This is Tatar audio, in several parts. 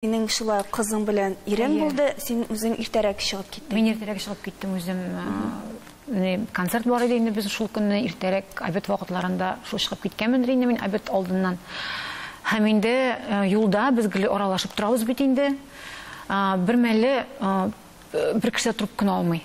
Синең шулай кызың белән ирең булды, син үзең иртәрәк чыгып киттең. Мин иртәрәк чыгып киттем үзем. Концерт бар иде инде без шул көнне иртәрәк обед вакытларында шул чыгып киткәнмендер инде мин обед алдыннан. Һәм инде юлда без гел аралашып торабыз бит инде. Бермәле бер кеше трубканы алмый.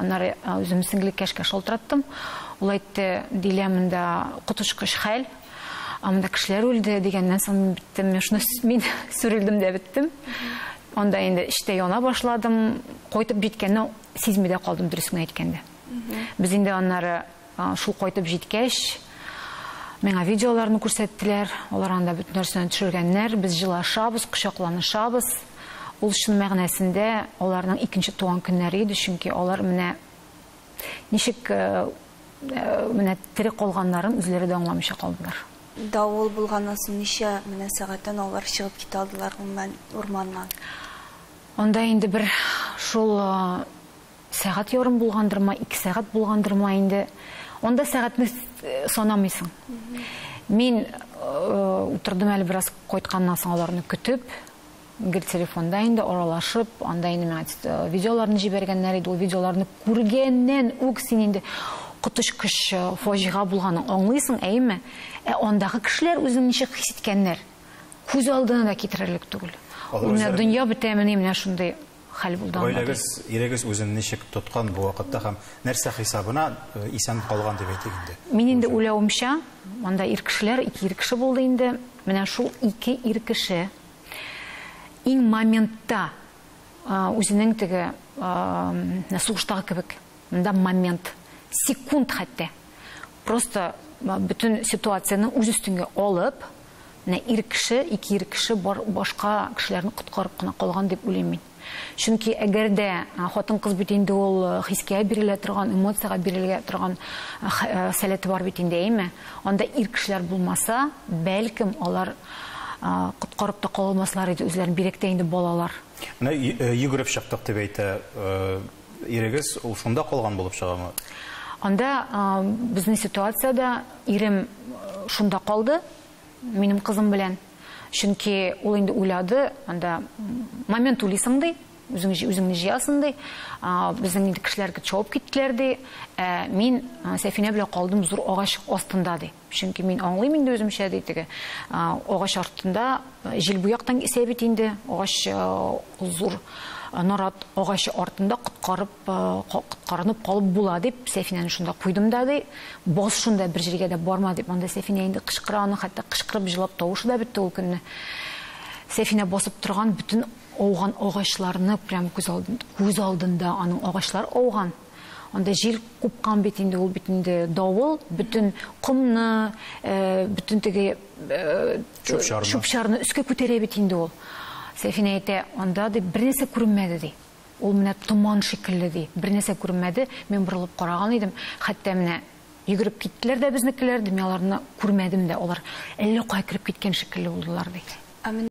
Аннары үзем сеңлекәшкә шалтыраттым. Ул әйтте, Дилә, монда коточкыч хәл. Монда кешеләр үлде дигәннән соң мин биттем. Мин шуны мин сүрелдем дә биттем. Анда инде эчтә яна башладым. Кайтып җиткәнне сизми дә калдым, дөресен әйткәндә. Без инде аннары Шул кайтып җиткәч, миңа видеоларны күрсәттеләр. Алар анда бөтен нәрсәне төшергәннәр. Без җылашабыз, кочакланышабыз. Ул чын мәгънәсендә аларның икенче туган көннәре иде, чөнки алар менә ничек э, э, менә тере калганнарын үзләре дә аңламыйча калдылар. Давыл булганнан соң ничә менә сәгатьтән алар чыгып китә алдылар урманнан? Анда инде бер шул э, Сәгать ярым булгандыр ма, ике сәгать булгандыр ма инде. Анда сәгатьне санамыйсың. Мин утырдым әле бераз кайтканнан соң аларны көтеп, гел телефонда инде аралашып, анда инде миңа э, видеоларны җибәргәннәр иде. Ул видеоларны күргәннән үк син инде коточкыч э, фаҗига булганын аңлыйсың, әйеме? Ә андагы кешеләр үзен ничек хис иткәннәр? Күз алдына да китерерлек түгел. Менә дөнья бетәмени менә шундый хәл булды анда. Гаиләгез, ирегез үзен ничек тоткан бу вакытта һәм нәрсә хисабына исән калган дип әйтик инде? Мин инде уйлавымча, анда ир кешеләр, ике ир кеше булды инде. Менә шул ике ир кеше иң моментта үзенең теге сугыштагы кебек, монда момент, секунд хәтта. Просто бөтен ситуацияне үз өстенге алып, Менә ир кеше, ике ир кеше бар, башка кешеләрне коткарып кына калган дип уйлыйм мин. Чөнки әгәр дә хатын-кыз бит инде ул хискә бирелә торган, эмоциягә бирелә торган сәләте бар бит инде, әйме? Анда ир кешеләр булмаса, бәлкем, алар коткарып та кала алмаслар иде үзләрен, бигрәк тә инде балалар. Менә йөгереп чыктык дип әйтә. Ирегез ул шунда калган булып чыгамы? Анда безнең ситуациядә ирем шунда калды, минем кызым белән. Чөнки ул инде уйлады, анда момент уйлыйсың ди, үзең үзеңне җыясың ди. Безнең инде кешеләр чабып киттеләр ди. Ә мин Сәфинә белән калдым зур агач астында ди. Чөнки мин аңлыйм инде үземчә, ди теге агач артында җил бу яктан исә бит инде, агач зур нарат агачы артында коткарып, коткарынып калып була, дип, Сәфинәне шунда куйдым да, ди, бас шунда, бер җиргә дә барма, дип, анда Сәфинә инде кычкыра, аның хәтта кычкырып җылап тавышы да бетте ул көнне. Сәфинә басып торган бөтен ауган агачларны прям күз алдында, күз алдында аның агачлар ауган. Анда җил купкан бит инде, ул бит инде давыл, бөтен комны, э, бөтен теге э, чүп-чарны өскә күтәрә бит инде ул. Сәфинә әйтә, анда ди бернәрсә күренмәде ди. Ул менә томан шикелле ди. Бернәрсә күренмәде. Мин борылып караган идем. Хәтта менә йөгереп киттеләр дә безнекеләр, ди, мин аларны күрмәдем дә. Алар әллә кая кереп киткән шикелле булдылар ди.